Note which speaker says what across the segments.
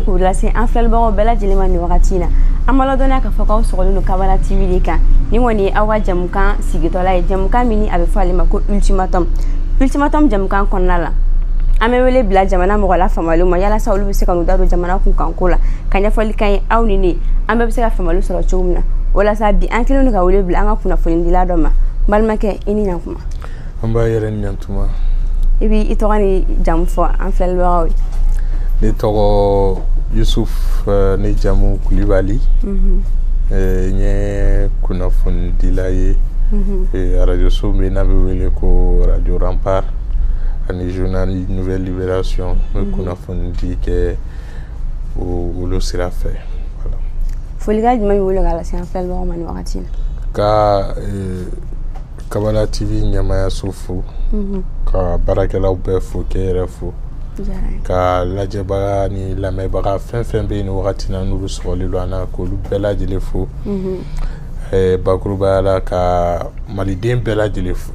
Speaker 1: k'u lase an filɛlibagaw bɛɛ lajɛlen ma nin wagati in na an b'a ladɔnniya k'a fɔ k'aw sɔgɔlen don kabala tv de kan ni kɔni ye aw ka jɛmukan sigitɔla ye jɛmukan min ni a bɛ fɔ ale ma ko ultimatum ultimatum jɛmukan kɔnɔna la an bɛ wele bila jamana mɔgɔ la faamuyalenw ma yalasa olu bɛ se ka n'u da don jamana kunkanko la ka ɲɛfɔli k'an ye aw ni ne an bɛɛ bɛ se ka faamuyali sɔrɔ cogo min na walasa bi an kelen don ka wele bila an ka kunnafonidila dɔ ma balimakɛ i ni ɲantuma nba i
Speaker 2: yɛrɛ ni ɲantuma i b'i
Speaker 1: tɔgɔ ni jamu fɔ an filɛlibagaw ye ne
Speaker 2: tɔgɔ yusuf eh, ne jamu kulibali mhm. eh, n ye kunnafonidila ye mhm. eh, arajoso min n'a bɛ wele ko radio rempart ani journal nouvelle libération n bɛ mhm. kunnafonidi kɛ olu sira fɛ folikan jumɛn
Speaker 1: b'i bolo k'a lase an filɛlibagaw ma nin wagati in na ka
Speaker 2: kabala tv ɲɛmaayaso fo mhm. ka baarakɛlaw bɛɛ fo k'e yɛrɛ fo ka lajɛbaga ni lamɛnbaga fɛn fɛn bɛ yen ni wagati na n'olu sɔgɔlen don an na k'olu bɛɛ lajɛlen fo mhm. eh, bakurubaya la ka maliden bɛɛ lajɛlen fo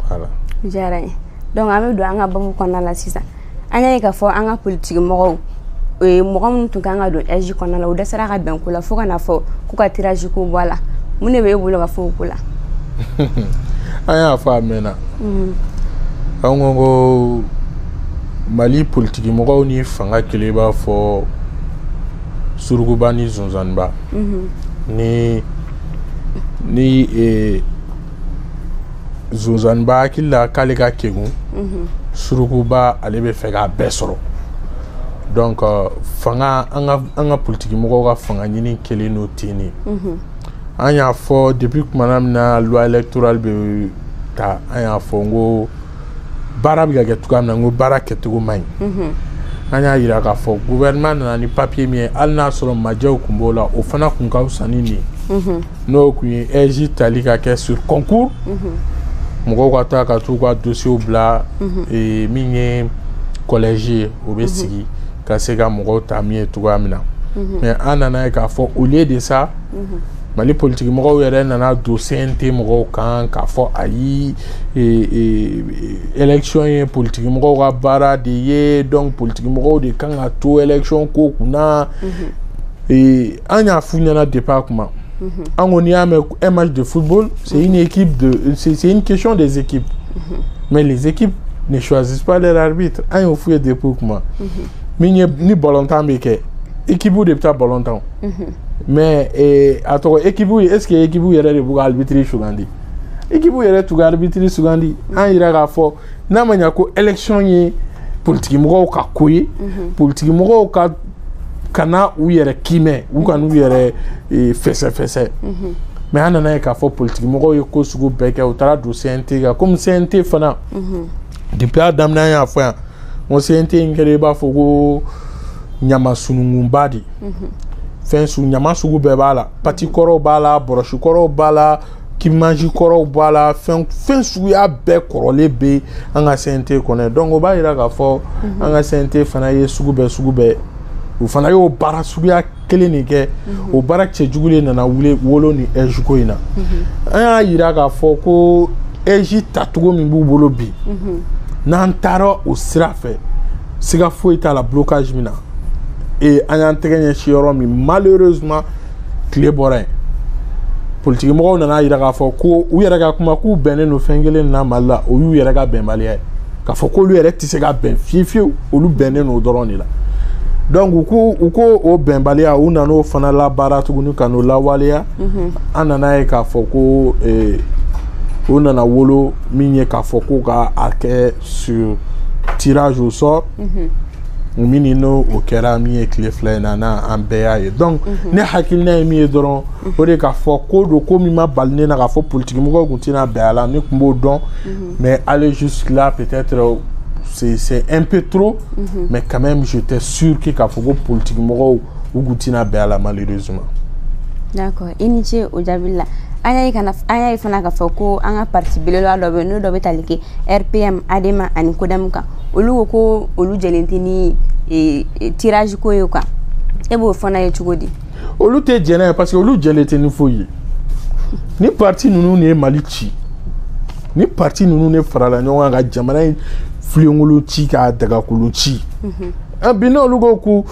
Speaker 2: voilà diyara n ye
Speaker 1: donc an bɛ don an ka babu kɔnɔna la sisan an y'a ye k'a fɔ an ka politiki mɔgɔw mɔgɔ minnu tun kan ka don AIGE kɔnɔna la u dɛsɛra ka bɛn ko la fo ka na fɔ k'u ka tiraji ko bɔ a la mun de bɛ e bolo ka fɔ o ko la
Speaker 2: an y'a fɔ a mɛnna mhm. an ko ko mali politiki mɔgɔw ni fanga kelen b'a fɔ surukuba ni sonsanniba mhm. ni ni eh, Sonsanba hakili la k'ale ka kegun surukuba ale bɛ fɛ k'a bɛɛ sɔrɔ donc euh, fanga an ka an ka politikimɔgɔw ka fanga ɲini kelen don ten de an y'a fɔ depuis kumana min na loi électorale bɛ ta an y'a fɔ n ko baara bɛ ka kɛ cogoya min na n ko baara kɛcogo man ɲi an y'a yira k'a fɔ gouvernement nana ni papier min ye hali n'a sɔrɔ majɛw tun b'o la o fana tun ka fisa ni nin ye n'o tun ye AIGE tali ka kɛ sur concours mɔgɔw ka taa ka t'u ka dosiyew bila min ye collège ye o bɛ sigi ka se ka mɔgɔw ta min ye cogoya min na mais an nan'a ye k'a fɔ au lieu de ça mali politikimɔgɔw yɛrɛ nana don CNT mɔgɔw kan k'a fɔ ayi élection ye politikimɔgɔw ka baara de ye donc politikimɔgɔw de kan ka to élection ko kunna an y'a f'u ɲɛna depuis a kuma mhm. an ko n'i y'a mɛn un match de football c'est mhm. une équipe de c'est une question des équipes mhm. mais les équipes ne choisissent pas leur arbitre an y'o f'u ye depuis o kuma min ye ni balontan bɛ kɛ équipe de bɛ taa balon tan mais eh, a tɔgɔ équipe ye est ce que équipe yɛrɛ de b'u ka arbitre sugandi équipe yɛrɛ t'u ka arbitre sugandi an yira k'a fɔ n'a ma ɲa ko élection ye politikimɔgɔw ka ko ye mhm. politikimɔgɔw ka ka na u yɛrɛ kiimɛ u ka na u yɛrɛ e, fɛsɛfɛsɛ mhm. mais an nana ye k'a fɔ politikimɔgɔw ye ko sugu bɛɛ kɛ u taara don cnt kan komi cnt fana mhm. depuis a daminɛ an y'a fɔ yan n ko cnt in kɛra i b'a fɔ ko ɲama sununkunba de fɛn su ɲama sugu bɛɛ b'a la pati kɔrɔw b'a la bɔrɔsi kɔrɔw b'a la k'i mansi kɔrɔw b'a la fɛn fɛn suguya bɛɛ kɔrɔlen bɛ an ka CNT kɔnɔ donc o b'a yira k'a fɔ mhm. an ka CNT fana ye sugu bɛɛ sugu bɛɛ u fana y'o baara suguya kelen de kɛ mhm. o baara cɛjugu de nana wuli wolo ni AIGE ko in na mhm. an y'a yira k'a fɔ ko AIGE tacogo min b'u bolo bi n'an taara o sira fɛ siga foyi t'a la blocage min na ee an y'an tɛgɛ ɲɛsin yɔrɔ min malheureusement tile bɔra yen politiki mɔgɔw nana yira k'a fɔ ko u yɛrɛ ka kuma k'u bɛnnen don fɛn kelen na mali la o y'u yɛrɛ ka bɛnbaliya ye k'a fɔ k'olu yɛrɛ tɛ se ka bɛn fiye fiyewu olu bɛnnen don o dɔrɔn de la donc u ko u ko o bɛnbaliya u nana o fana labaara tuguni ka n'o lawaleya mhm. an nana ye k'a fɔ ko eh, u nana wolo min ye k'a fɔ ko ka a kɛ sur tirage au sort mhm. min n'o kɛra min ye tile fila in na n'an bɛɛ y'a ye donc mhm. ne hakilina ye min ye dɔrɔn mhm. o de k'a fɔ ko don ko min ma bali ne na k'a fɔ politikimɔgɔw tun tɛna bɛn a la ne tun b'o dɔn mais aller jusque là peut-être c'est un peu trop mais quand même j'étais sûr que k'a fɔ ko politikimɔgɔw u tun tɛna bɛn a la malheureusement d'accord
Speaker 1: i ni ce o jaabi la an y'a ye kana an y'a ye fana k'a fɔ ko an ka parti belebeleba dɔ bɛ yen n'o dɔ bɛ tali kɛ rpm adema ani codem kan olu ko ko olu jɛlen tɛ ni e, e, tirage ko ye quoi e b'o fana ye cogo di olu tɛ jɛn n'a
Speaker 2: ye parce que olu jɛlen tɛ ni foyi ye ni parti ninnu de ye mali ci ni parti ninnu de farala ɲɔgɔn kan ka jamana in filenkolo ci k'a dagakolo ci mhm. ah, bi n'olu ko ko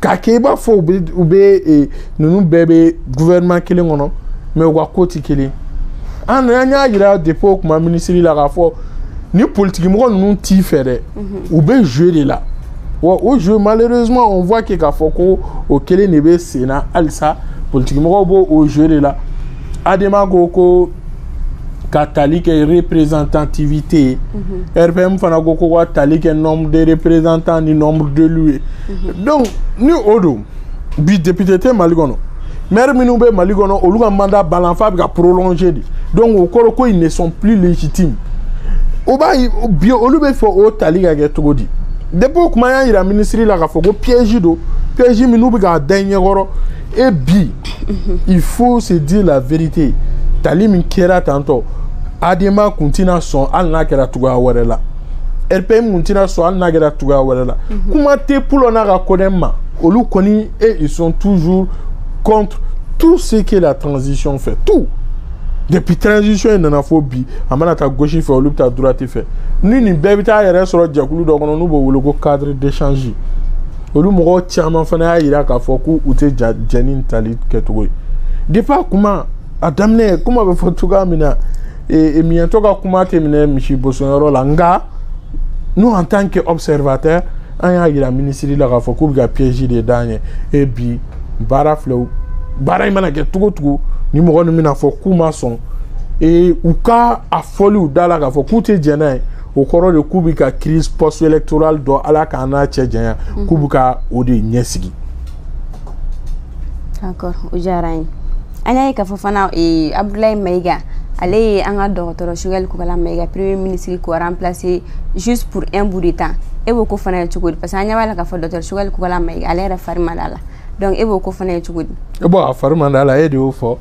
Speaker 2: k'a kɛ i b'a fɔ u bɛ u bɛ e, ninnu bɛɛ bɛ gouvernement kelen kɔnɔ mais u ka ko tɛ kelen an an y'a yira depuis o kuma minisiri la k'a fɔ ni politikimɔgɔ ninnu t'i fɛ dɛ u bɛ jeu de la wa o jeu malheureusement on voit que k'a fɔ ko o kelen de bɛ sen na halisa politikimɔgɔw b'o o jeu de la adema ko ko ka tali kɛ représentativité ye mm -hmm. rpm fana ko ko ka tali kɛ nombre de représentants ni nombre d'élus ye mm -hmm. donc ni o don bi député tɛ mali kɔnɔ maire minnu bɛ mali kɔnɔ olu ka mandat banna f'a bɛ ka prolonger de donc o kɔrɔ ko ils ne sont plus légitimes o b'a ye bi olu b'a fɛ o tali ka kɛ cogo di depuis o kuma y'a yira minisiri la k'a fɔ ko piège don piège min n'u bɛ k'a da i ɲɛkɔrɔ e bi il faut se dire la vérité tali min kɛra tantôt adema kun tɛna sɔn hali n'a kɛra cogoya wɛrɛ la rpm kun tɛna sɔn hali n'a kɛra cogoya wɛrɛ la kuma tɛ pulo n'a ka codem ma olu kɔni et ils sont toujours contre tout ce que la transition fait tout depuis transition in nana fo bi a mana taa gauche fɛ olu bɛ taa droite fɛ ni nin bɛɛ bɛ taa yɛrɛ sɔrɔ jɛkulu dɔ kɔnɔ n'u b'o wele ko cadre d'échange olu mɔgɔ caman fana y'a yira k'a fɔ ko u tɛ jɛn ni tali kɛcogo ye depuis a kuma a daminɛ kuma bɛ fɔ cogoya min na e, e, miɲɛtɔ ka kuma tɛ minɛ misi bosoyɔrɔ la nka nous en tant que observateur an y'a yira minisiri la k'a fɔ k'u bɛ ka piège de d'an ye e bi baara filɛ baara in mana kɛ cogo cogo ni mɔgɔ ninnu bɛna fɔ k'u ma sɔn ee u ka a fɔli u da la k'a fɔ k'u tɛ jɛn n'a ye o kɔrɔ de k'u bɛ ka crise post électorale dɔ ala k'an n'a cɛ janya mhm. k'u bɛ ka o de ɲɛsigi
Speaker 1: d'accord o diyara an ye an y'a ye k'a fɔ fana eh, abudulayi mayiga ale ye an ka dɔgɔtɔrɔ sugɛli kokala mayiga premier ministre k'o remplacer juste pour un bout de temps e b'o ko fana ye cogo di parce que an ɲɛ b'a la k'a fɔ dɔgɔtɔrɔ sugɛli kokala mayiga ale yɛrɛ fari man d'a la donc e b'o ko fana ye cogo di bɔn a fari man
Speaker 2: d'a la e de y'o fɔ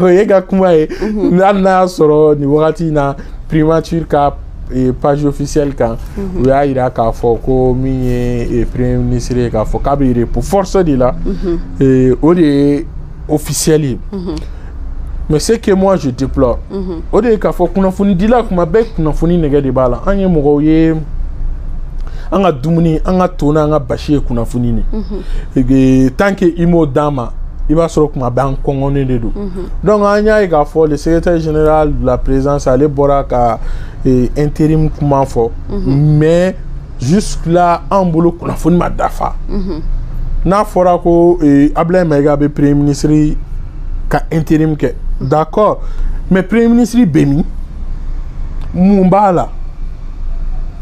Speaker 2: o y'e ka kuma ye mhm. hali n'a y'a sɔrɔ nin wagati in na primature ka eh, page officielle kan mhm. u y'a yira k'a fɔ ko min ye eh, premier ministre ye k'a fɔ k'a bɛ repos forcé de la mhm. eh, o de ye officiel mais ce que moi je déplore o de ye k'a fɔ kunnafonidila kuma bɛɛ kunnafoni nege de b'a la an ye mɔgɔw ye an ka dumuni an ka to n'an ka basi ye kunnafoni de tant que i m'o d'an ma i b'a sɔrɔ kuma bɛɛ an kɔngɔnen de don donc an y'a ye k'a fɔ le secrétaire général de la présidence ale bɔra ka intérim kuma fɔ mais jusque-là an bolo kunnafoni ma dafa mhm. n'a fɔra ko eh, ablaye mayiga bɛ premier ministre ka intérim kɛ d'accord mais premier ministre bɛ min mun b'a la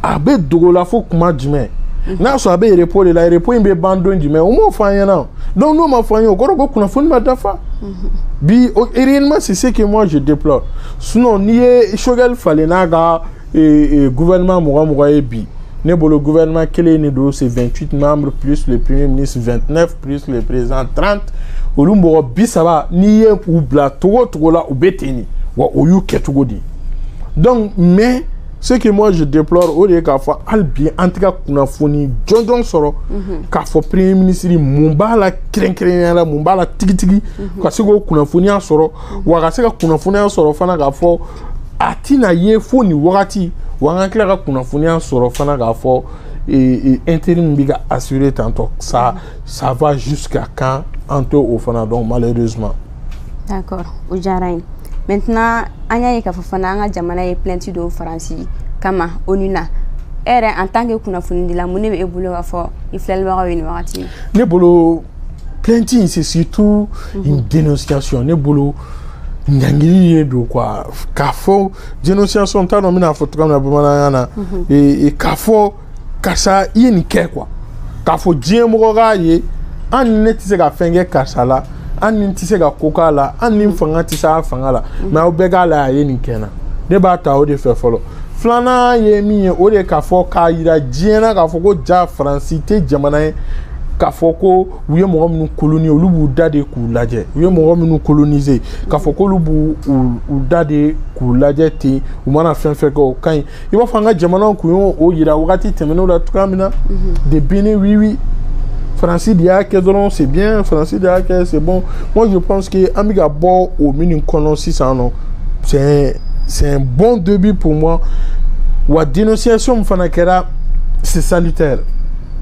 Speaker 2: a bɛ dogo la fo kuma jumɛn mhm. n'a sɔrɔ a bɛ repos de la repos in bɛ ban don jumɛn u m'o fɔ an ɲɛna o donc n'o ma fɔ an ye o kɔrɔ ko kunnafoni ma dafa mhm. bi réellement c'est ce que moi je déplore sinon n'i ye sogɛli falen n'a ka ee gouvernement mɔgɔ mɔgɔ ye bi ne bolo gouvernement kelen de don c'est 28 membres plus le premier ministre 29 plus le président 30 olu mɔgɔ bi saba n'i ye u bila cogo o cogo la u bɛ ten de wa o y'u kɛcogo de ye donc mais ce que moi je déplore o de ye k'a fɔ hali bi an tɛ ka kunnafoni jɔnjɔn sɔrɔ k'a fɔ premier ministre mun b'a la kɛrɛnkɛrɛnnenya la mun b'a la tigitigi ka se k'o kunnafoniya sɔrɔ wa ka se ka kunnafoniya sɔrɔ fana k'a fɔ a tɛna ye fo nin wagati wa an ka tila ka kunnafoniya sɔrɔ fana k'a fɔ intérim bɛ ka assurer tantôt ça ça va jusqu'à quand an tɛ o fana dɔn malheureusement.
Speaker 1: d'accord o diyara n ye maintenant an y'a ye k'a fɔ fana an ka jamana ye plainte don faransi kama onu na e yɛrɛ en tant que kunnafonidila mun de bɛ e bolo k'a fɔ i filɛlibagaw ye nin wagati in na. ne bolo
Speaker 2: plainte in c'est surtout mhm. une dénonciation ne bolo ɲangili de don quoi k'a fɔ dénonciation n t'a dɔn n bɛn'a fɔ cogoya min na bamananya na mhm. k'a fɔ karisa i ye nin kɛ quoi k'a fɔ diɲɛ mɔgɔ k'a ye an ni ne tɛ se ka fɛn kɛ karisa la an ni tɛ se ka ko k'a la an ni fanga tɛ se a fanga la mais aw bɛɛ k'a la a ye nin kɛ an na ne b'a ta o de fɛ fɔlɔ filanan ye min ye o de k'a fɔ k'a yira diɲɛ na k'a fɔ ko ja faransi tɛ jamana ye k'a fɔ ko u ye mɔgɔ minnu coloniser olu b'u da de k'u lajɛ u ye mɔgɔ minnu coloniser k'a fɔ k'olu b'u u da de k'u lajɛ ten u mana fɛn fɛn kɛ o ka ɲi i b'a fɔ an ka jamanaw kun y'o yira wagati tɛmɛnenw la cogoya min na mhm. de béni-oui-oui faransi de y'a kɛ dɔrɔn c'est bien faransi de y'a kɛ c'est bon moi je pense que an bɛ ka bɔ o minnu kɔnɔ sisan non c'est c'est un bon début pour moi wa dénonciation min fana kɛra c'est salutaire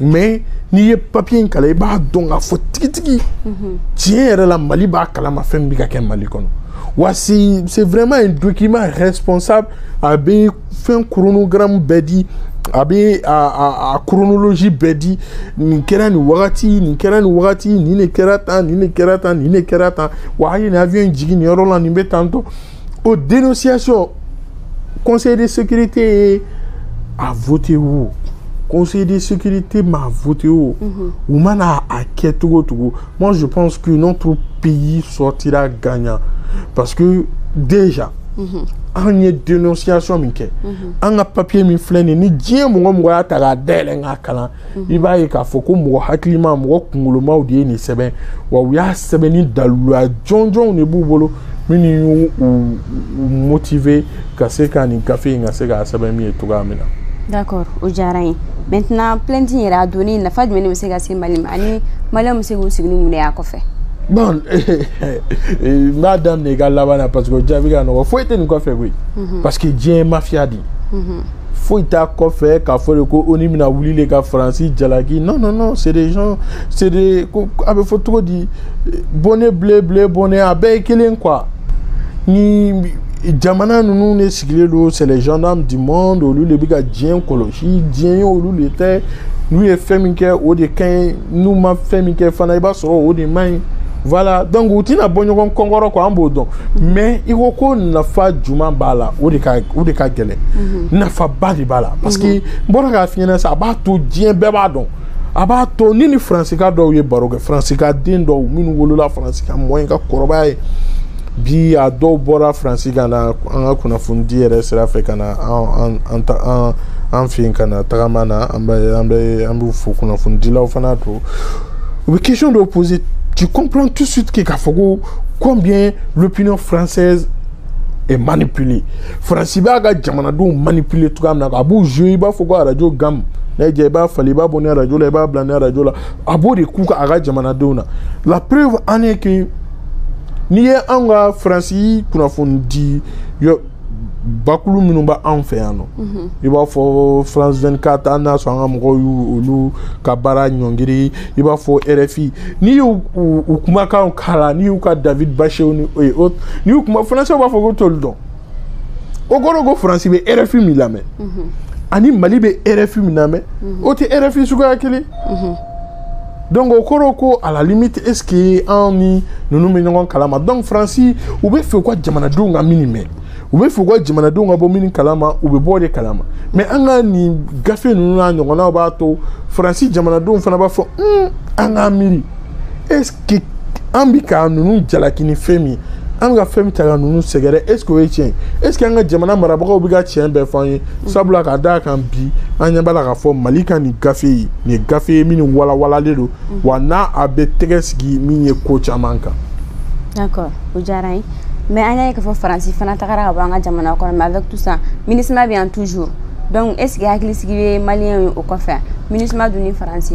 Speaker 2: mais n'i ye papier in kalan i b'a dɔn k'a fɔ tigitigi tiɲɛ yɛrɛ la mali b'a kalama fɛn min bɛ ka kɛ mali kɔnɔ wa c'est c'est vraiment un document responsable a bɛ fɛn chronogramme bɛɛ di a bɛ a a a chronologie bɛɛ di nin kɛra nin wagati nin kɛra nin wagati nin de kɛra tan nin de kɛra tan nin de kɛra tan wa a ye nin avion in jigin nin yɔrɔ la nin bɛ tan tɔ o dénonciation conseil de sécurité ye a voté o conseil de sécurité m'a voté o mhm. u mana a kɛ cogo cogo moi je pense que notre pays sortira gagnant parce que déjà mhm. an ye dénonciation min kɛ mhm. an ka papier min filɛ nin ni diɲɛ mɔgɔ mɔgɔ y'a ta k'a dayɛlɛ k'a kalan mhm. i b'a ye k'a fɔ ko mɔgɔ hakilima mɔgɔ kunkolomaw de ye nin sɛbɛn wa u y'a sɛbɛn ni daliluya jɔnjɔnw de b'u bolo minnu y'u motiver ka se ka nin gafe in ka se k'a sɛbɛn min ye cogoya min na d'accord o
Speaker 1: diyara n ye maintenant plainte in yɛrɛ a donni nafa jumɛn de bɛ se ka se mali ma ani maliyɛnw bɛ se k'u sigi ni mun de y'a kɔfɛ bon
Speaker 2: n b'a daminɛ i ka laban na parce que o jaabi ka nɔgɔ foyi tɛ nin kɔfɛ koyi mhm. parce que diɲɛ ye mafiya de ye mhm. foyi t'a kɔfɛ k'a fɔ de ko onu bɛna wuli de ka faransi jalaki non non non c'est des gens c'est des ko a bɛ fɔ cogo di bonnet blanc blanc bonnet a bɛɛ ye kelen quoi nin jamana ninnu de sigilen don c'est les gendarmes du monde olu de bɛ ka diɲɛ kɔlɔsi diɲɛ ye olu de ta ye n'u ye fɛn min kɛ o de ka ɲi n'u ma fɛn min kɛ fana i b'a sɔrɔ o de man ɲi. voilà donc u tɛna bɔ ɲɔgɔn kunkɔrɔ quoi an b'o dɔn mais i ko ko nafa juman b'a la o de ka o de ka gɛlɛn mhm. nafaba de b'a la parce que mhm. n bɔra k'a f'i ɲɛna sa a b'a to diɲɛ bɛɛ b'a dɔn a b'a to ne ni faransika dɔw ye baro kɛ faransika den dɔw minnu wolola faransi ka mɔ yen ka kɔrɔbaya yen bi a dɔw bɔra faransi ka na an ka kunnafonidi yɛrɛ sira fɛ ka na an an an an fɛ yen ka na tagama na an bɛ an bɛ an b'u fo kunnafonidilaw fana don u bɛ question dɔw poser tu comprends tout de suite que k'a fɔ ko combien l'opinion française est manipulée faransi b'a ka jamanadenw manipuler cogoya min na a b'u jouer i b'a fɔ ko arajo gamu n'a jɛ i b'a falen i b'a bɔ nin arajo la i b'a bila nin arajo la a b'o de k'u ka a ka jamanadenw na la preuve en est que n'i ye anw ka faransi kunnafonidi bakulu minnu bɛ anw fɛ yan nɔ mhm. i b'a fɔ france 24 an n'a sɔrɔ an ka mɔgɔw y'olu ka baara ɲɔngiri i b'a fɔ rfi n'i y'u u kumakanw kalan n'i y'u ka david baché et autres n'i y'u kuma françaisw b'a fɔ k'u t'olu dɔn o kɔrɔ ko faransi bɛ rfi min lamɛn mhm. ani mali bɛ rfi min lamɛn mhm. o tɛ rfi suguya kelen donc o kɔrɔ ko à la limite est ce que an ni ninnu bɛ ɲɔgɔn kalama donc faransi u bɛ fɛ u ka jamanadenw ka min mɛn u bɛ fɛ u ka jamanadenw ka bɔ min kalama u bɛ bɔ o de kalama mais an ka nin gafe ninnu n'a ɲɔgɔnnaw b'a to faransi jamanadenw fana b'a fɔ an k'an miiri est ce que que an bi ka ninnu jalaki ni fɛn min an bɛ ka fɛn min ta ka ninnu sɛgɛrɛ est ce que o ye tiɲɛ est ce que an ka jamana marabagaw bɛ ka tiɲɛ bɛɛ fɔ an ye sabula ka d'a kan bi an ɲɛ b'a la k'a fɔ mali ka nin gafe ye nin ye gafe ye min walawalalen don wa n'a a bɛ tɛgɛ sigi min ye ko caman kan.
Speaker 1: d'accord o diyara n ye mais an y'a ye k'a fɔ faransi fana tagara ka bɔ an ka jamana kɔnɔ mais avec tout ça minusma bɛ yan toujours donc est ce que hakilisigi bɛ maliyɛnw ye o kɔfɛ minusma dun ni faransi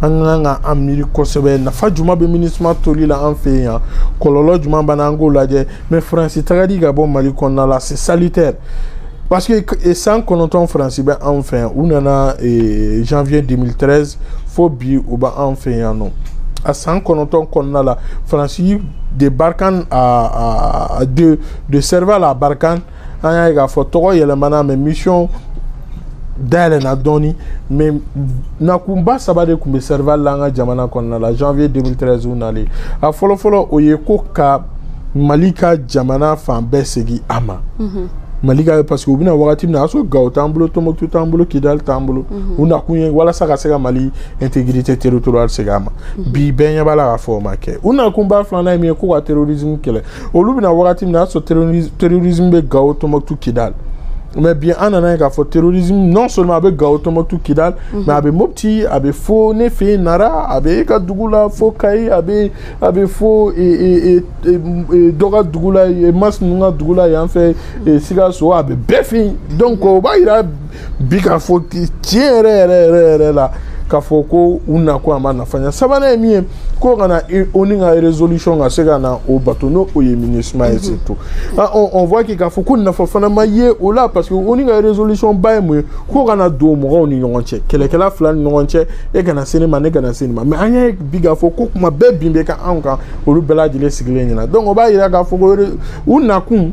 Speaker 2: an ka kan ka an miiri kosɛbɛ nafa juman bɛ minusma toli la an fɛ yan kɔlɔlɔ juman b'a na an k'o lajɛ mais faransi tagali ka bɔ mali kɔnɔna la c'est salutaire parce que san kɔnɔntɔn faransi bɛ anw fɛ yan u nana janvier 2013 fo bi u bɛ anw fɛ yan nɔ a san kɔnɔntɔn kɔnɔna la faransi de barkhane a de de serval à barkhane an y'a ye k'a fɔ tɔgɔ yɛlɛmana mais mission dayɛlɛna dɔɔni mais nakunba saba de tun bɛ serval la an ka jamana kɔnɔna la janvier 2013 u nalen a fɔlɔfɔlɔ o ye ko ka mali ka jamana fan bɛɛ segin a ma mhm. mali ka parce que u bɛna wagati min na a sɔrɔ gawo t'an bolo tomoktu t'an bolo kidali t'an bolo mhm. u nakun ye walasa ka se ka mali intégrité territoriale segin a ma mhm. bi bɛɛ ɲɛ b'a la k'a fɔ o ma kɛ u nakunba filanan ye min ye ko ka terrorisme kɛlɛ olu bɛ na wagati min na y'a sɔrɔ terrorisme bɛ gawo tɔnbɔkutu kidali mais bi an nan'a ye k'a fɔ terrorisme non seulement a bɛ gawo tɔnbɔkutu kidali mais mhm. a bɛ mopti a bɛ fo ne fɛ yen nara a bɛ e ka dugu la fo kayi a bɛ a bɛ fo e, e, e, dɔ ka dugu la mas ninnu ka dugu la yan fɛ sikaso a bɛ bɛɛ fɛ yen donc o b'a yira bi k'a fɔ tiɲɛ yɛrɛ yɛrɛ yɛrɛ yɛrɛ la k'a fɔ ko u nakun a ma nafa ɲɛ sabanan ye min ye ko ka na ONU ka résolution ka se ka na o bato n'o ye minisuma ye surtout on voit que k'a fɔ ko nafa fana ma ye o la parce que ONU ka résolution ba ye mun ye ko ka na don mɔgɔw ni ɲɔgɔn cɛ kɛlɛkɛla fila ni ɲɔgɔn cɛ e kana se ne ma ne kana se nin ma mais an y'a ye bi k'a fɔ ko kuma bɛɛ bin bɛ ka anw kan olu bɛɛ lajɛlen sigilen ɲɛna donc o b'a yira k'a fɔ ko u nakun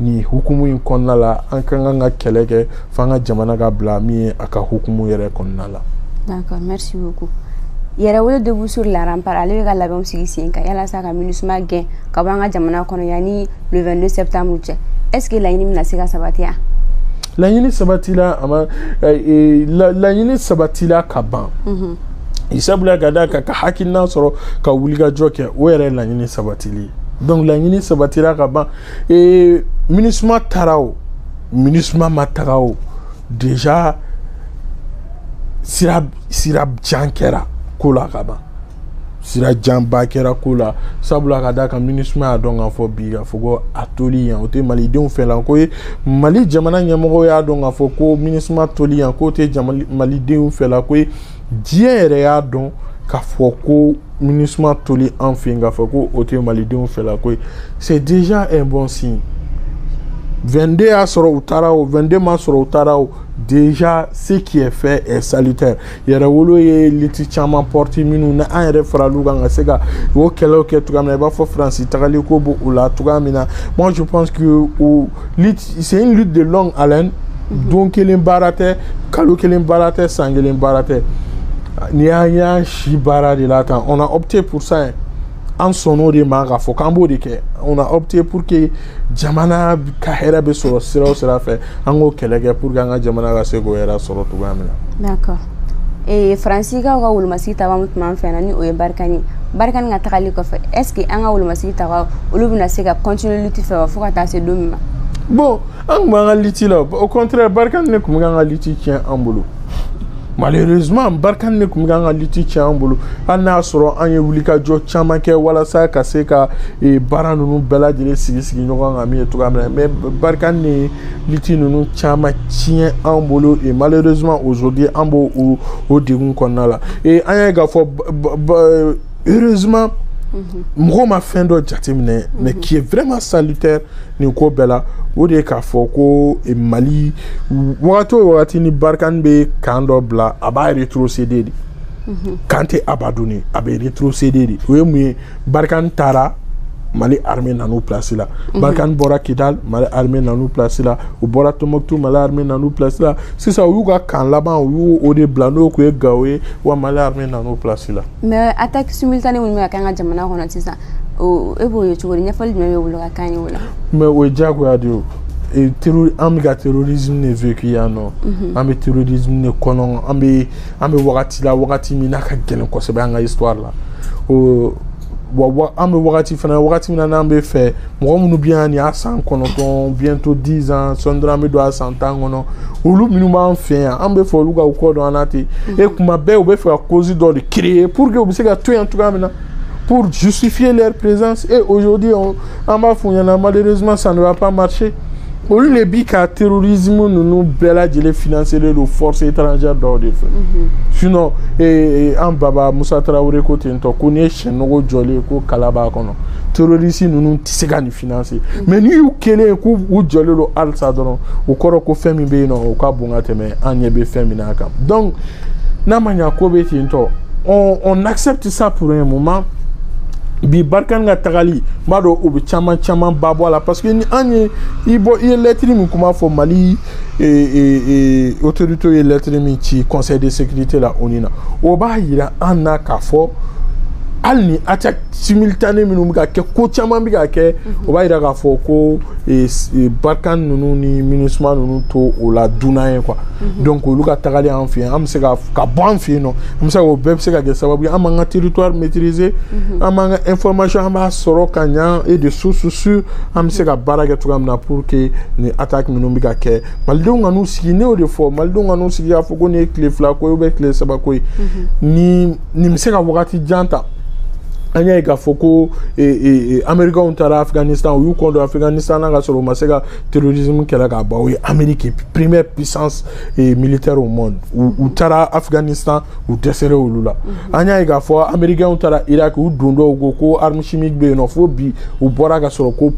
Speaker 2: nin hukumu in kɔnɔna la an ka kan ka kɛlɛ kɛ fo an ka jamana ka bila min ye a ka hukumu yɛrɛ kɔnɔna la d'accord
Speaker 1: merci beaucoup yɛrɛwolo debout sur la rempart ale bɛ ka labɛnw sigi sen kan yalasa ka minusuma gɛn ka bɔ an ka jamana kɔnɔ yanni le 22 septembre cɛ est ce que laɲini bɛna se ka sabati wa
Speaker 2: laɲini sabatila a ma eh, eh, laɲini sabatila ka ban mhm. sabula ka d'a kan ka hakilina sɔrɔ ka wulikajɔ kɛ o yɛrɛ laɲini sabatili donc laɲini sabatila ka ban ee minisuma taara o minisuma ma taga o déjà sira sira jan kɛra ko la ka ban sira janba kɛra ko la sabula ka d'a kan minisuma y'a dɔn k'a fɔ bi k'a fɔ ko a toli yan o tɛ malidenw fɛla ko ye mali jamana ɲɛmɔgɔ y'a dɔn k'a fɔ ko minisuma toli yan k'o tɛ malidenw fɛla ko ye diɲɛ yɛrɛ y'a dɔn k'a fɔ ko minisuma toli an fɛ yen k'a fɔ ko o tɛ malidenw fɛla ko ye c'est déjà un bon signe 22 y'a sɔrɔ u taara o 22 m'a sɔrɔ u taara o déjà ce qui est fait est salutaire yɛrɛwolo ye lutte caman porter minnu na an yɛrɛ farala u kan ka se ka o kɛlɛw kɛ cogoya min na i b'a fɔ faransi tagali ko b'o la cogoya min na moi je pense que o C'est une lutte de longue haleine. Mhm. Don kelen baara tɛ kalo kelen baara tɛ san kelen baara tɛ n'i y'an y'an si baara de la tan on a opté pour ça hein. an sɔnn'o de ma k'a fɔ k'an b'o de kɛ on a opté pour que jamana ka hɛrɛ bɛ sɔrɔ sira o sira fɛ an k'o kɛlɛ kɛ pour que an ka jamana ka se k'o hɛrɛ sɔrɔ cogoya min na. D'accord.
Speaker 1: ee faransikaw ka wolomasigi taga min tun b'an fɛ yan ni o ye barikani ye barikani ka tagali kɔfɛ est ce que an ka wolomasigi taga olu bɛna se ka continuer lutte fɛ wa fo ka taa se don min ma bon
Speaker 2: an tun b'an ka lutte la au contraire barikani de tun bɛ k'an ka lutte tiɲɛ an bolo malheureusement barikani de tun bɛ k'an ka lutte tiɲɛ an bolo hali n'a sɔrɔ an ye wulikajɔ caman kɛ walasa ka se ka baara ninnu bɛɛ lajɛlen sigi sigi ɲɔgɔn kan min ye cogoya min na mais barikani de ye liti ninnu caman tiɲɛ an bolo et malheureusement aujourd'hui an b'o o o degun kɔnɔna la et an y'a ye k'a fɔ heureusement mhm. mɔgɔw ma fɛn dɔ jateminɛ mhm. mais qui est vraiment salutaire nin ko bɛɛ la o de ye k'a fɔ ko eh, mali wagati o wagati ni barikani bɛ kan dɔ bila a b'a rétrocéder de mhm. kan tɛ abandonner a bɛ rétrocéder de o ye mun ye barikani taara mali armée nan'u place la mhm. barikani bɔra kidal mali armée nan'u place la u bɔra tombouctou mali armée nan'u place la sisan u y'u ka kan laban u y'o de bila n'o tun ye gawo ye wa mali armée nan'u place la mais
Speaker 1: attaque simultanée minnu bɛ ka kɛ an ka jamana kɔnɔ sisan e
Speaker 2: b'o
Speaker 1: ye cogo di ɲɛfɔli jumɛn
Speaker 2: b'e
Speaker 1: bolo ka kan ye o la mais o ye diyagoya de ye o an bɛ ka
Speaker 2: terrorisme de vécu yan nɔ an bɛ terrorisme de kɔnɔ an bɛ an bɛ wagati la wagati min n'a ka gɛlɛn kosɛbɛ an ka histoire la o wa an bɛ wagati fana wagati min na n'an bɛ fɛ mɔgɔ minnu bɛ yan nin y'a san kɔnɔntɔn bientôt dix ans sɔɔni dɔrɔn an bɛ don a san tan kɔnɔ olu minnu b'an fɛ yan an bɛ fɛ olu ka u kɔ don an na ten e kuma bɛɛ u bɛ fɛ ka cause dɔ de créer pour que u bɛ se ka to yan cogoya min na pour justifier leur présence et aujourd'hui on an b'a f'u ɲɛna malheureusement ça ne va pas marcher olu de bi ka terrorisme ninnu bɛɛ lajɛlen financelen don force étrangère dɔw de fɛ mhm. sinon eh, eh, an baba musa tarawele ko ten tɔ ko n'i ye sɛ nugu jɔlen ye ko kala b'a kɔnɔ terroriste ninnu tɛ se ka nin financer mhm. mais n'i y'u kelen ye k'u jɔlen don halisa dɔrɔn o kɔrɔ ko fɛn min bɛ yen nɔ o ka bon ka tɛmɛ an ɲɛ bɛ fɛn min na kan donc n'a ma ɲa ko bɛ ten tɔ on on accepte ça pour un moment bi barikani ka tagali n b'a dɔn o bɛ caman caman ba bɔ a la parce que ni an ye i bɔ i ye lɛtiri min kuma fɔ mali e, e, e, autoritew ye lɛtiri min ci conseil de sécurité la oni na o b'a yira an na k'a fɔ hali ni attaque simultanée minnu bɛ ka kɛ ko caman bɛ ka kɛ o b'a yira k'a fɔ ko barikani ninnu ni minusima ninnu t'o la dunan ye quoi Mhm. donc olu ka tagali an fɛ yen an bɛ se ka ka bɔ an fɛ yen nɔ an bɛ se k'o bɛɛ bɛ se ka kɛ sababu ye an b'an ka territoire maîtriser mhm. an b'an ka information an b'a sɔrɔ ka ɲa et de source sûre an bɛ se ka baara kɛ cogoya min na pour que nin attaque minnu bɛ ka kɛ malidenw kan'u sigi ne y'o de fɔ malidenw kan'u sigi k'a fɔ ko nin ye tile fila ko ye ou bien tile saba ko ye mhm. nin nin bɛ se ka wagati jan ta an y'a ye k'a fɔ ko amerikɛnw taara afganistan u y'u kɔ don afganistan na ka sɔrɔ u ma se ka terrorisme kɛlɛ ka ban o ye amérique première puissance eh, militaire au monde u taara afghanistan u dɛsɛra olu la mhm. an y'a ye k'a fɔ américainw taara irak u dontɔ ko ko arme chimique bɛ yen nɔ fo bi u bɔra ka sɔrɔ ko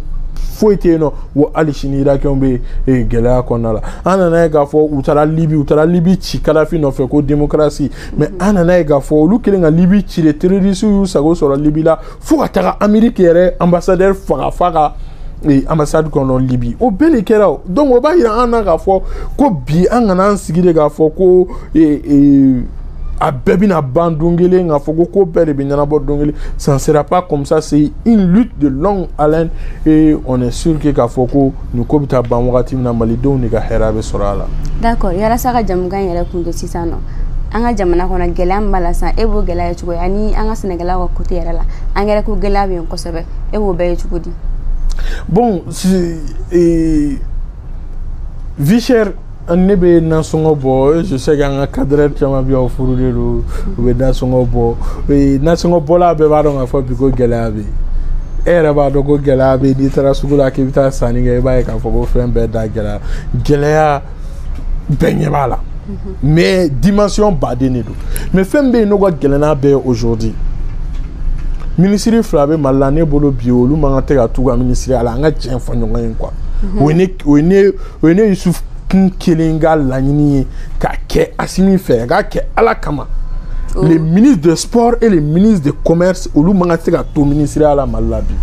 Speaker 2: foyi tɛ yen nɔ wa hali sini irakɛnw bɛ eh, gɛlɛya kɔnɔna la an nana ye k'a fɔ u taara libi u taara libi ci kadafi nɔfɛ ko demokarasi mais an nana ye k'a fɔ olu kɛlen ka libi ci de terorisiw y'u sago sɔrɔ libi la fo ka taga ameriki yɛrɛ ambassadɛr faga a ka e, ambassade kɔnɔ libi o bɛɛ de kɛra o donc o b'a yira an na k'a fɔ ko bi an kana an sigi de k'a fɔ ko e, e, a bɛɛ bɛna ban don kelen k'a fɔ ko ko bɛɛ de bɛ ɲɛnabɔ don kelen ça ne sera pas comme ça c'est une lutte de longue haleine et on est sûr que k'a fɔ ko nin ko bɛ taa ban wagati min na malidenw de ka hɛrɛ bɛ sɔrɔ a la d'accord
Speaker 1: yalasa ka jɛmukan in yɛrɛ kundon sisan nɔ an ka jamana kɔnɔ gɛlɛya min b'a la sisan e b'o gɛlɛya ye cogo di ani an ka sɛnɛkɛlaw ka côté yɛrɛ la angɛrɛ ko gɛlɛya bɛ yen kosɛbɛ e b'o bɛɛ ye cogo di bon
Speaker 2: si, e, vie chère ne bɛ nasɔngɔ bɔ je sais que an ka cadreur caman bɛ yan u furulen don u bɛ nasɔngɔ bɔ nasɔngɔ bɔla bɛɛ b'a dɔn k'a fɔ bi ko gɛlɛya bɛ yen e yɛrɛ b'a dɔn ko gɛlɛya bɛ yen n'i taara sugu la k'i bɛ taa sanni kɛ i b'a ye k'a fɔ ko fɛn bɛɛ da gɛlɛya gɛlɛya bɛɛ ɲɛ b'a la mais dimension baden de don mais fɛn bɛ yen n'o ka gɛlɛn n'a bɛɛ ye aujourd'hui minisiri fila bɛ mali la ne bolo bi olu man kan tɛ ka t'u ka minisiriya la an ka tiɲɛ fɔ ɲɔgɔn ye quoi o ye ne o ye ne o ye ne yusufu kun kelen ka laɲini ye k'a kɛ asimi fɛ k'a kɛ ala kama oh. le ministre de sport et le ministre de commerce olu man ka se ka to minisiriya la mali la bi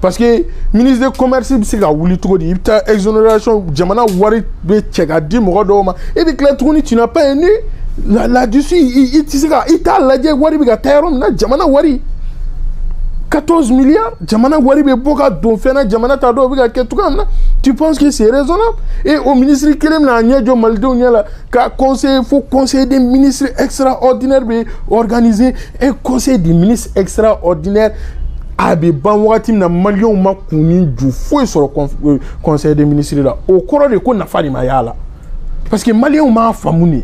Speaker 2: parce que ministre de commerce bɛ se ka wuli cogo di i bɛ taa exonération jamana wari bɛɛ cɛ k'a di mɔgɔ dɔw ma e bɛ tila tuguni tu n'as pas un œil là-dessus i tɛ se ka i t'a lajɛ wari bɛ ka taa yɔrɔ min na jamana wari 14 milliards jamana wari bɛ bɔ ka don fɛn na jamana t'a dɔn o bɛ ka kɛ cogoya min na tu penses que c'est raisonnable et o minisiri kelen bɛna a ɲɛ jɔ malidenw ɲɛ la ka conseil fo conseil des ministres extraordinaire bɛ organiser un conseil des ministres extraordinaire a bɛ ban wagati min na maliyɛnw ma kun ni ju foyi sɔrɔ euh, conseil des ministres la o kɔrɔ de ko nafa de ma y'a la parce que maliyɛnw m'a faamu de.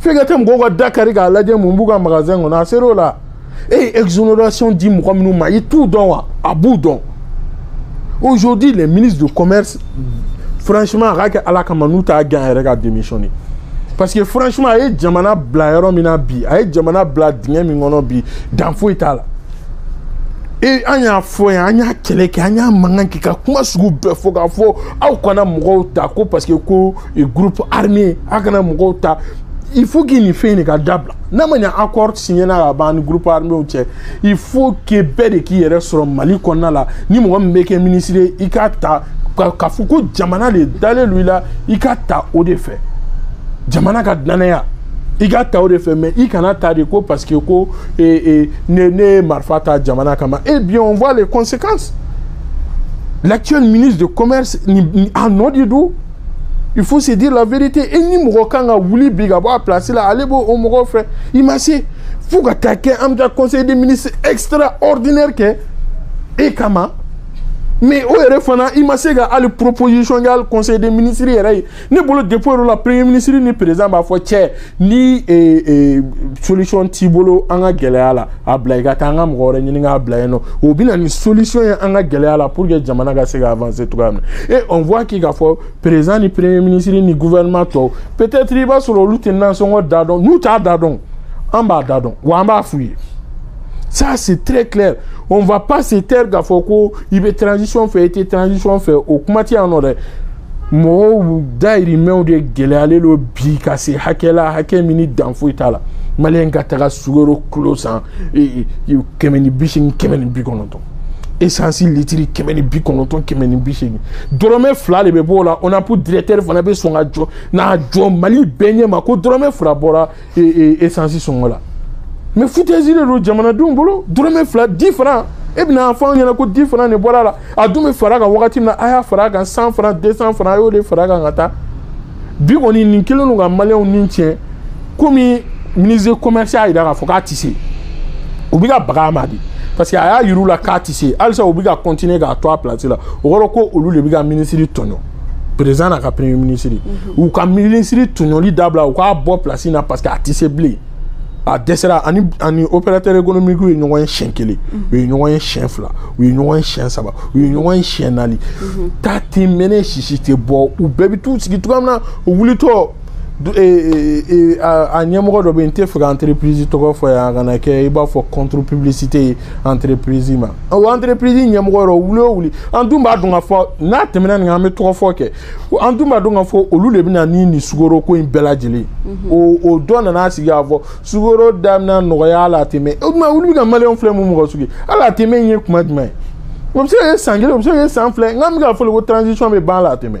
Speaker 2: f'e ka taa mɔgɔw ka da kari k'a lajɛ mun b'u ka magasin kɔnɔ a ser'o la e ye exonération di mɔgɔ minnu ma i t'u dɔn wa a b'u dɔn aujourd'hui le ministre de commerce franchement a k'a kɛ ala kama n'u t'a gɛn a yɛrɛ ka démissionner parce que franchement a ye jamana bila yɔrɔ min na bi a ye jamana bila dingɛ min kɔnɔ bi dan foyi t'a la e an y'a fɔ yan an y'a kɛlɛ kɛ an y'a mankan kɛ ka kuma sugu bɛɛ fɔ k'a fɔ aw kana mɔgɔw ta ko parce que ko ye groupe armé a kana mɔgɔw ta il faut que nin fɛn in de ka dabila n'a ma ɲɛ accord signena ka ban ni groupe arméw cɛ il faut que bɛɛ de k'i yɛrɛ sɔrɔ mali kɔnɔna la ni mɔgɔ min bɛ kɛ ministre ye i k'a ta k'a fɔ ko jamana de dalen don i la i ka ta o de fɛ jamana ka dannaya i ka ta o de fɛ mais i kana ta de ko parce que ko e, e, ne ne ye marifa ta jamana kama eh bien on voit les conséquences l'actuel ministre de commerce nin a nɔ de don il faut se dire la vérité et ni mɔgɔ kan ka wuli bi ka bɔ a place la ale b'o o mɔgɔ fɛ i ma se fo ka taa kɛ an bɛ taa conseil des ministres extraordinaire kɛ e kama mais o yɛrɛ fana i ma se ka hali proposition kɛ hali conseil des ministres yɛrɛ ye ne bolo depuis o yɔrɔ la premier ministre ni président b'a fɔ cɛ ni eh, eh, solution t'i bolo an ka gɛlɛya la a bila i ka taa an ka mɔgɔ wɛrɛ ɲini k'a bila yen nɔ o bɛ na ni solution ye an ka gɛlɛya la pour que jamana ka se ka avancer cogoya min na et on voit k'i k'a fɔ président ni premier ministre ni gouvernement tɔw peut-être i b'a sɔrɔ olu tɛ nansɔngɔ da dɔn n'u t'a da dɔn an b'a da dɔn wa an b'a f'u ye ça c'est très clair on va pas se taire k'a fɔ ko i bɛ transition fɛ i tɛ transition fɛ o kuma tɛ yan nɔ dɛ. mɔgɔw dayirimɛw de gɛlɛyalen don bi ka se hakɛ la hakɛ min ni dan foyi t'a la maliyɛn ka taga sukaro kilo san kɛmɛ ni bi seegin kɛmɛ ni bi kɔnɔntɔn esansi litiri kɛmɛ ni bi kɔnɔntɔn kɛmɛ ni bi seegin dɔrɔmɛ fila de bɛ bɔ o la onap directeur fana bɛ sɔn ka jɔ na jɔ mali bɛɛ ɲɛ ma ko dɔrɔmɛ fila bɔra esansi sɔngɔ la mais foutaise de don jamanadenw bolo dɔrɔmɛ fila dix francs e bɛna a fɔ an ɲɛna ko dix francs de bɔra a la a dun bɛ fara a kan wagati min na a y'a fara a kan cent francs deux cents francs a y'o de fara a kan ka taa bi kɔni nin kelen don ka maliyɛnw ni tiɲɛ comme ministre commerce y'a jira k'a fɔ k'a tɛ se u bɛ ka baga a ma de parce que a y'a yir'u la k'a tɛ se halisa u bɛ ka continuer k'a to a place la o kɔrɔ ko olu de bɛ ka minisiri tɔɲɔ président n'a ka premier ministre u ka minisiri tɔɲɔli dabila u k'a bɔ place na parce que a tɛ se bilen a dɛsɛra a ni opérateur économique u ye ɲɔgɔn ye siɲɛ kelen u ye ɲɔgɔn ye siɲɛ fila u ye ɲɔgɔn ye siɲɛ saba u ye ɲɔgɔn ye siɲɛ naani ta tɛ mɛnɛ sisi tɛ bɔ u bɛɛ bɛ t'u sigi cogoya min na u wulitɔ a ɲɛmɔgɔ dɔ bɛ yen n t'a fɛ ka entreprise tɔgɔ fɔ yan a kana kɛ i b'a fɔ contre publicité ye entreprise ma o entreprise ɲɛmɔgɔ yɔrɔ wuli o wuli an dun b'a dɔn k'a fɔ n'a tɛmɛna nin kan an bɛ tɔgɔ fɔ kɛ an dun b'a dɔn k'a fɔ olu de bɛna ni nin sukoro ko in bɛɛ lajɛlen o o dɔ nana sigi k'a fɔ sukoro da bɛna nɔgɔya à long terme o tuma olu bɛ ka maliyɛnw filɛ mun mɔgɔ sugu ye à long terme in ye kuma jumɛn ye o bɛ se ka kɛ san kelen o bɛ se ka kɛ san fila nka an bɛ k'a fɔ ko transition bɛ ban la a tɛmɛ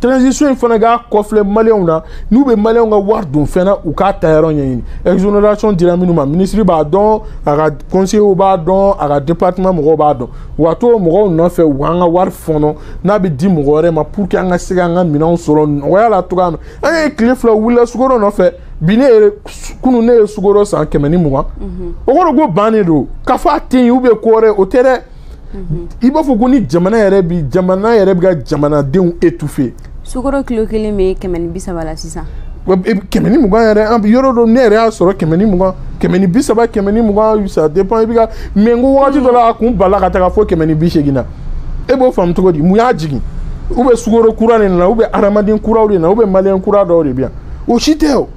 Speaker 2: transition in fana k'a kɔfilɛ maliyɛnw na n'u bɛ maliyɛnw ka wari don fɛn na u k'a taayɔrɔ ɲɛɲini exonération dira minnu ma minisiri b'a dɔn a ka conseillers b'a dɔn a ka département mɔgɔw b'a dɔn u ka t'o mɔgɔw nɔfɛ u k'an ka wari fɔɔnɔ n'a bɛ di mɔgɔ wɛrɛ ma pour que an ka se k'an ka minɛnw sɔrɔ nɔgɔya la cogoya min an ye tile fila wulila sukoro nɔfɛ bi ne ye kunu ne ye sukoro san kɛmɛ ni mugan o kɔrɔ ko bannen don k'a fɔ a tɛ yen ou bien ko wɛrɛ o tɛ dɛ i b'a fɔ ko ni jamana yɛrɛ bi jamana yɛrɛ bɛ ka jamanadenw étouffer sukoro
Speaker 1: kilo kelen bɛ kɛmɛ ni bi saba la sisan e, kɛmɛ ni
Speaker 2: mugan yɛrɛ an yɔrɔ dɔ ne yɛrɛ y'a sɔrɔ kɛmɛ ni mugan kɛmɛ ni bi saba kɛmɛ ni mugan ça dépend i bɛ ka mais n ko wagati dɔ la a kun bala ka taga fo kɛmɛ ni bi seegin na e b'o faamu cogo di mun y'a jigin ou bien sukoro kura de nana ou bien hadamaden kuraw de nana ou bien maliyɛn kura dɔw de bɛ yan o si tɛ o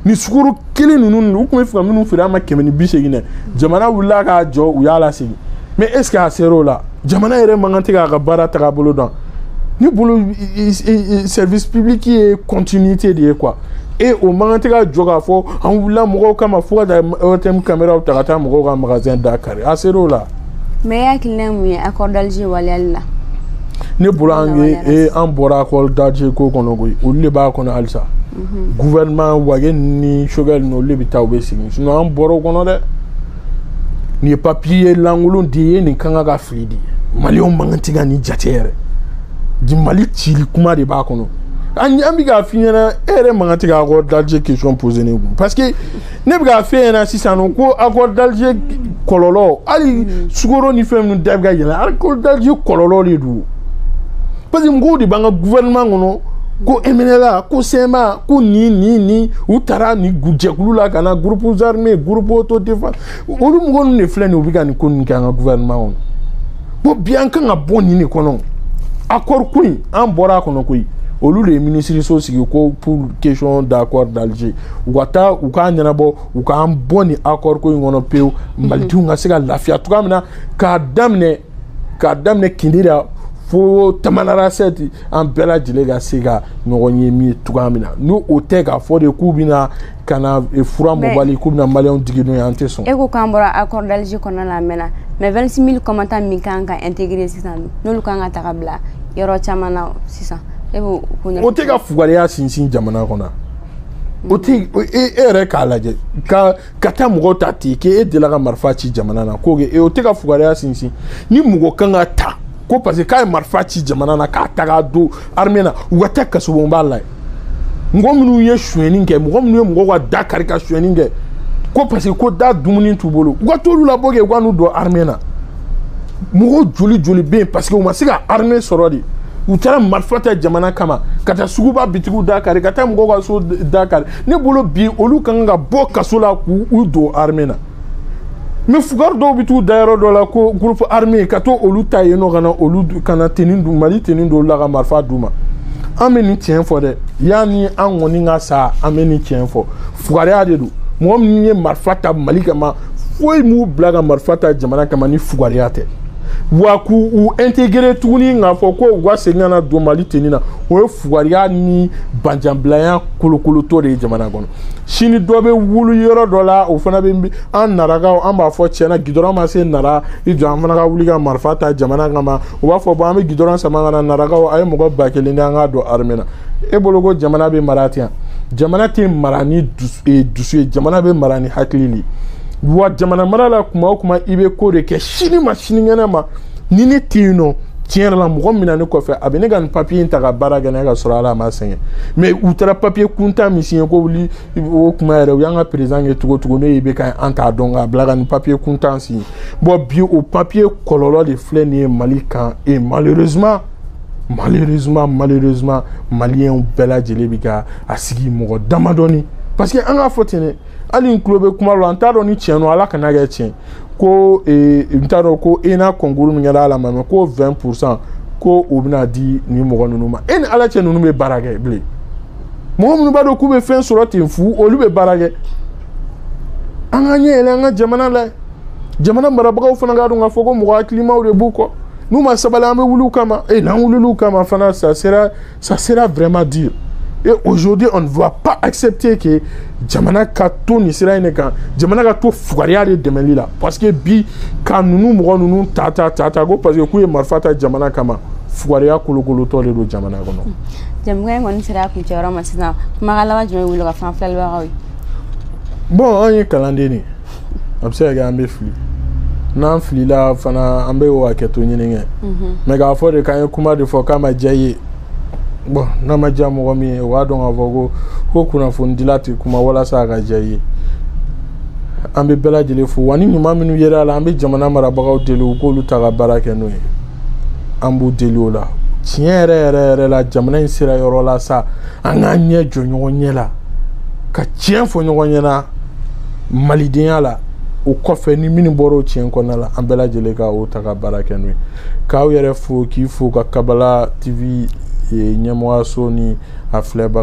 Speaker 2: nin sukoro kelen ninnu u tun b'a fɛ ka minnu feere an ma kɛmɛ ni bi seegin na jamana wulila ka jɔ u y'a lasegin mais est ce que a sera o la jamana yɛrɛ man kan tɛ k'a ka baara tagabolo dɔn ne bolo service public ye continuité de ye quoi e o man kan tɛ ka jɔ k'a fɔ an wulila mɔgɔw kama fo ka taa ORTM kameraw ta ka taa mɔgɔw ka magasin da kari a sera o la mais e
Speaker 1: hakilina mun ye accord d'alger waleyali la ne
Speaker 2: bolo an ye an bɔra accord d'alger ko kɔnɔ koyi olu de b'a kɔnɔ halisa gouvernement Wagué ni Choguel ninnu olu de bɛ taa u bɛ sigi sinon an bɔra o kɔnɔ dɛ nin ye papiye lankolon de ye nin kan ka ka fili de maliyɛnw man kan tɛ ka nin jate yɛrɛ de mali cili kuma de b'a kɔnɔ an an bɛ k'a f'i ɲɛna e yɛrɛ man kan tɛ ka accord d'Alger question poser ne kun parce que ne bɛ k'a f'e ɲɛna sisan nɔ ko accord d'Alger kɔlɔlɔ hali sukoro ni fɛn ninnu da bɛ ka yɛlɛ accord d'Alger kɔlɔlɔ de don parce que mɔgɔw de b'an ka gouvernement kɔnɔ ko MNLA ko CMA ko nin nin nin u taara nin jɛkulu la ka na groupes armés groupes autodéfense olu mɔgɔ ninnu de filɛ nin ye u bɛ ka nin ko ninnu kɛ an ka gouvernement kɔnɔ ko bi an kan ka bɔ nin de kɔnɔ accord ko in an bɔra a kɔnɔ koyi olu de ye minisiriso sigi ko pour question d'accord d'Alger u ka taa u k'a ɲɛnabɔ u k'an bɔ nin accord ko in kɔnɔ pewu mhm. malidenw ka se ka lafiya cogoya min na k'a daminɛ k'a daminɛ kidira fo tamanarasɛti an bɛɛ lajɛlen ka se ka ɲɔgɔn ye min ye cogoya min na ni o tɛ k'a fɔ de k'u bɛna ka na e, fura mɔbali k'u bɛna maliyɛnw digi n'o ye an tɛ sɔn. e ko k'an bɔra accord
Speaker 1: d'Alger kɔnɔna la a mɛnna mais 26 000 combattants min kan ka intégrer sisan n'olu kan ka taga bila yɔrɔ caman na sisan e b'o ko ɲɛfɔ. o
Speaker 2: tɛ ka fugariya sinsin jamana kɔnɔ. o tɛ e yɛrɛ k'a lajɛ ka ka taa mɔgɔw ta ten k'e delila ka marifa ci jamana na k'o kɛ o tɛ ka fugariya sinsin ni mɔgɔ kan ka ta ko parce que k'a ye marifa ci jamana na k'a ta k'a don armée na u ka taa kasobonba la yen mɔgɔ minnu ye sonyɛni kɛ mɔgɔ minnu ye mɔgɔw ka da kari ka sonyɛni kɛ ko parce que ko da dumuni t'u bolo u ka t'olu labɔ kɛ u ka n'u don armée na. mɔgɔ joli joli bɛ yen parce que u ma se ka armée sɔrɔ de u taara marifa ta jamana kama ka taa suguba bitigiw da kari ka taa mɔgɔw ka so da kari ne bolo bi olu ka kan ka bɔ kaso la k'u u don armée na mais fugari dɔw bɛ t'u da yɔrɔ dɔ la ko groupe armé ka t'olu ta yen nɔ ka na olu ka na tenue d'u mali tenue d'olu la ka marifa d'u ma an bɛ nin tiɲɛ fɔ dɛ yanni an kɔni ka sa an bɛ nin tiɲɛ fɔ fugariya de don mɔgɔ min ye marifa ta mali kama foyi m'u bila ka marifa ta jamana kama ni fugariya tɛ wa k'u u intégrer tuguni k'a fɔ ko u ka segin ka na don mali tenue na o ye fugariya ni banjanbilaya kolokolotɔ de ye jamana kɔnɔ sini dɔ bɛ wuli yɔrɔ dɔ la o fana bɛ an narakaw an b'a fɔ tiɲɛna gidɔrɔn ma se nara i jɔ an fana ka wuli ka marifa ta jamana kama u b'a fɔ bon an bɛ gidɔrɔn sama ka na narakaw a ye mɔgɔ ba kelen di an k'a don armée na e bolo ko jamana bɛ mara ten jamana tɛ mara ni e, dusu ye jamana bɛ mara ni hakili de wa jamana mara la kuma o kuma i bɛ ko de kɛ sini ma sinikɛnɛ ma ni ne tɛ yen non tiɲɛ yɛrɛ la mɔgɔ min na ne kɔfɛ a bɛ ne ka nin papiye in ta ka baara kɛ n'a ka sɔrɔ ala a ma sɛgɛn mais u taara papiye kuntan min siɲɛ ko wuli o kuma yɛrɛ u y'an ka président kɛ cogo cogo ne bɛ ka an t'a dɔn k'a bila ka nin papiye kuntan siɲɛ bon bi o papiye kɔlɔlɔ de filɛ nin ye mali kan et malheureusement malheureusement malheureusement maliyɛnw bɛɛ lajɛlen bɛ ka a sigi mɔgɔ damadɔni parce que an k'a fɔ ten dɛ hali n tulo bɛ kuma la n t'a dɔn ni tiɲɛ don ala kan'a kɛ tiɲɛ ko eh, n t'a dɔn ko ENA concours min kɛra ala ma mɛ ko 20 pourcent ko o bɛna di nin mɔgɔ ninnu ma e ni ala cɛ ninnu bɛ baara kɛ bilen mɔgɔ minnu b'a dɔn k'u bɛ fɛn sɔrɔ ten fu olu bɛ baara kɛ an ka ɲɛ yɛlɛ an ka jamana la jamana marabagaw fana k'a dɔn k'a fɔ ko mɔgɔ hakilimaw de b'u kɔ n'u ma sabali an bɛ wuli u kama e n'an wulila u kama fana ça sera Ça sera vraiment dur. Et aujourd'hui, on ne va pas accepter que jamana ka to nin sira in de kan jamana ka to fugariya de dɛmɛli la parce que bi ka ninnu mɔgɔ ninnu ta ta ta ta ko parce que k'u ye marifa ta jamana kama fugariya kolokolotɔ de don jamana kɔnɔ. jɛmukan in
Speaker 1: kɔni sera a kuncɛyɔrɔ ma sisan kumakan laban jumɛn b'e la ka fɔ an filɛlibagaw ye. bon
Speaker 2: an ye kalanden de ye. a bɛ se ka kɛ an bɛ fili n'an filila fana an bɛ o hakɛto ɲini kɛ mais k'a fɔ de k'an ye kuma de fɔ k'a ma diya i ye bon n'a ma diya mɔgɔ min ye o b'a dɔn k'a fɔ ko ko kunnafonidila tɛ kuma walasa a ka diya i ye an bɛ bɛɛ lajɛlen fo wa ni ɲuman minnu yera a la an bɛ jamana marabagaw deli u k'olu ta ka baara kɛ n'o ye an b'u deli o la tiɲɛ yɛrɛ yɛrɛ yɛrɛ la jamana in sera yɔrɔ la sa an k'an ɲɛ jɔ ɲɔgɔn ɲɛ la ka tiɲɛ fɔ ɲɔgɔn ɲɛna malidenya la o kɔfɛ ni minnu bɔra o tiɲɛ kɔnɔna la an bɛɛ lajɛlen ka o ta ka baara kɛ n'o ye k'aw yɛrɛ fo k'i fo ka kabala tv ɲɛmɔgɔyaso ni a filɛbaga